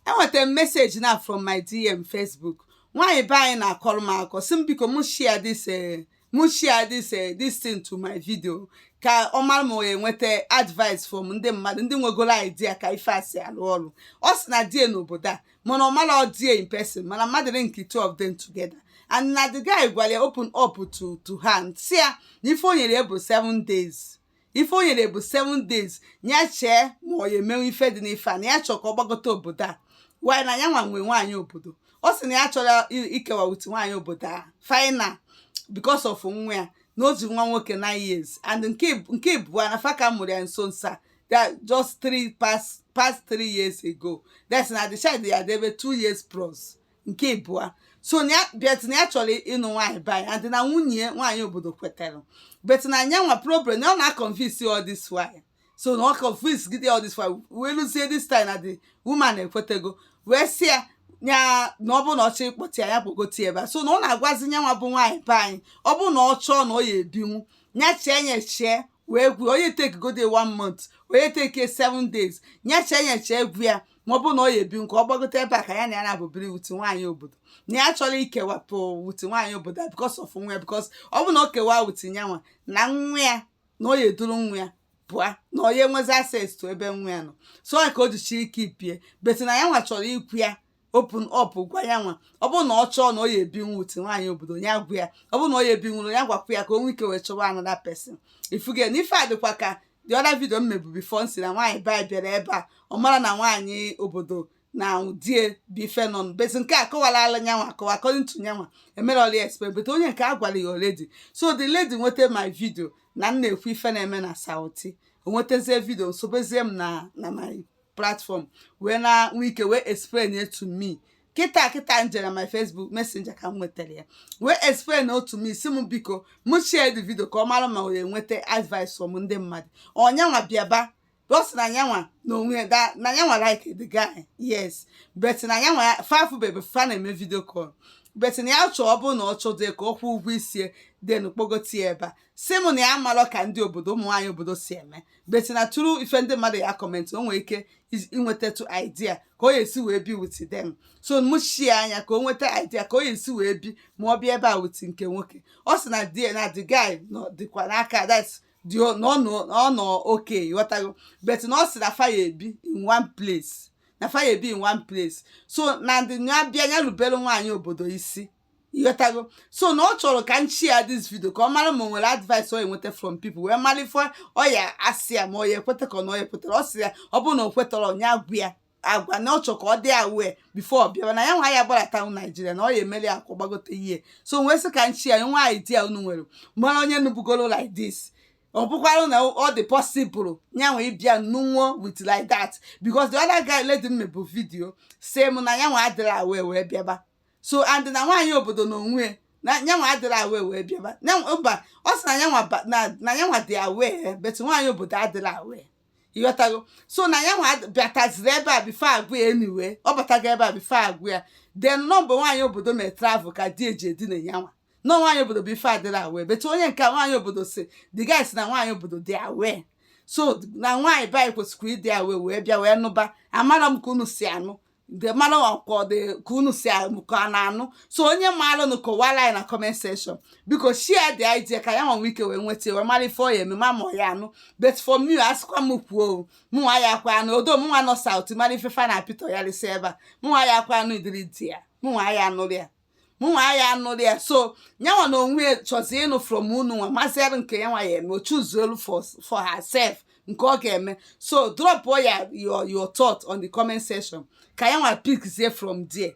enwetara m message na from my dm facebook nwaanyị be anyị na-akọrọ m akọ sị m biko m share this eh, m share this eh, this thing to my video ka ọ mara ma ọ ya enweta advice from ndị mmadụ ndị nwegoro idea ka ife a si alụ ọrụ ọ sị na di ye nọ obodo a mana ọ marọ di ye in person mana mmadụ linkị two of them together and na the guy gwara ya open up to to her and sị ya na ife o nyere ya bụ seven days ife o nyere bụ 7 days ya chee ma ọ ya emenwu ife dị n'ife a na ya chọọ ka ọ gbagote obodo a while na ya nwa nwee nwaanyị obodo ọ sị na ya achọrọ i- ikewa with nwaanyị obodo a final because of nwa ya na o ji nwa nwoke 9 years and nke ib- nke ịbụa na fa ka mụrụ ya nso nso a that just 3 past past 3 years ago that's na the child ya debe 2 years plus nke ịbụa so na ya but na ya chọrọ ịnụ nwaanyị be anyị and na nwunye nwaanyị obodo kwetara but na nyanwa problem na ọ na-aconvince all this while so na ọ convince gide all this while wee luzie this time na the woman ekwetego wee sị ya ya na ọ bụrụ na ọ chọọ ịkpọta ya ya kpọgote ebe a so na ọ na-agwazi nyanwa bụ nwaanyị be anyị ọ bụrụ na ọ chọọ na ọ ya ebinwu ya chee ya chee wee gwa ya ọ ya take godu one month ọ ya take seven days ya chee ya chee gwa ya ma ọ bụ na ọ ya ebinwu ka ọ gbagote ebe a ka ya na ya naabọ biri with nwaanyị obodo na ya achọrọ ikewapụ with nwaanyị obodo a because of nwa ya because ọ bụ na o kewaa with ya nwa na nwa ya na ọ ya eduru nwa ya pụa na ọ ya enwezi access to ebe nwa ya nọ so ọ ka o ji chọọ ikeep ye but na ya nwa chọrọ ikwu ya open up gwa ya nwa ọ bụrụ na ọ chọọ na ọ ya ebinwu with nwaanyị obodo ya gwa ya ọ bụrụ na ọ ya ebinwurọ ya gwakwa ya ka o nwee ike wee chọwa another person ị fụgo na ife a dịkwa ka the other video m mebu before m sị na nwaanyị be anyị bịara ebe a ọ marọ na nwaanyị obodo na di ye bi fa nọ but nke a akọwarọla nyanwa akọwa according to nyanwa emerọla explain but onye nke a gwara ya already so the lady nweta my video na m na-ekwu ife na-eme na South o nwetazie video nsobezie m na na my platform wee na nwee ike wee explain to me kịta kịta m jere my Facebook messenger ka m nwetara ya wee explain to me sị m biko m share the video ka ọ mara ma ọ ya enweta advice from ndị mmadụ ọ nyanwa bịa ebe a because na nyanwa na o nwe that na nyanwa like the guy yes but na nyanwa fa afụbebe fa na-eme video call but na ya chọọ ọ bụrụ na ọ chọdụ ka ọ kwụọ ụgwọ isi then kpọgote ya ebe a si m na ya amarọ ka ndị obodo ụmụ nwaanyị obodo si eme but na through ife ndị mmadụ ya acomment o nwere ike is- inwetatụ idea ka ọ ya esi wee bi with them so m share nya ka o nweta idea ka ọ ya esi wee bi ma ọ bịa ebe a with nke nwoke ọ sị na di na the guy nọ dịkwa n'aka that's dị o- na ọ nọ na ọ nọ okay ị ghọtago but na ọ sị na fa ya ebi in one place na fa ya ebi in one place so na ndị ya bịa ya rubere nwaanyị obodo isi ịghọtago so na ọ chọrọ ka m share this video ka ọ mara ma o nwere advice ọ enweta from people wee mara ife ọ ya asị ya ma ọ ya ekweta ka ọ na ọ ya ekwetara ọ sị ya ọ bụrụ na o kwetara onye agwa ya agwa na ọ chọrọ ka ọ dị aware before ọ bịawa na ya nwa ya gbarata ụnọ Nigeria na ọ ya emeli ya ka ọ gbagote ihe so wee sị ka m share ya nwa idea unu nwere mara onye nụbugoro like this ọ bụkwara na ọ dị possible ya nwa ịbịa nụnwụọ with like that because the other guy lady m mebụ video sị m na ya nwa adịrị aware wee bịaba so and na nwaanyị obodo na onwe na nyanwa adịrị aware wee bịaba Nyanwa- mba ọ sị na nyanwa ba- na- na nyanwa dị aware but nwaanyị obodo adịrị aware ịghọtago so na ya nwa bịataziri ebe a before agwa ya anyway ọ batago ebe a before agwa ya then nọ mgbe nwaanyị obodo mere travel ka di ya ji edina ya nwa no nwaanyị obodo bụ ife adịrị aware but onye nke a nwaanyị obodo sị the guy sị na nwaanyị obodo dị aware so na nwaanyị be anyị kwesịkwara ịdị aware wee bịa wee nụba amara m ka unu si anụ nke mara ọkwa ọ dị ka unu si anụ ka a na-anụ so onye maalụ nụ kọwara anyị na comment section biko share the idea ka ya nwa nwee ike wee nweta wee mara ife ọ ya eme ma ma ọ ya anụ but for me a sịkwa m kwuo o mụnwa ya akwa anụ odo mụnwa nọ south mara ife fa na apịtọ ya lịsị ebe a mụnwa ya akwa anụ idiri di ya mụnwa ya anụrụ ya mụnwa ya anụrụ ya so nyanwa na onwe ya chọzi ịnụ from unu nwa masịrị nke yanwa ya eme o chooselu for for herself nke ọ ga-eme so drop ya your your thought on the comment section ka yanwa pickzie from there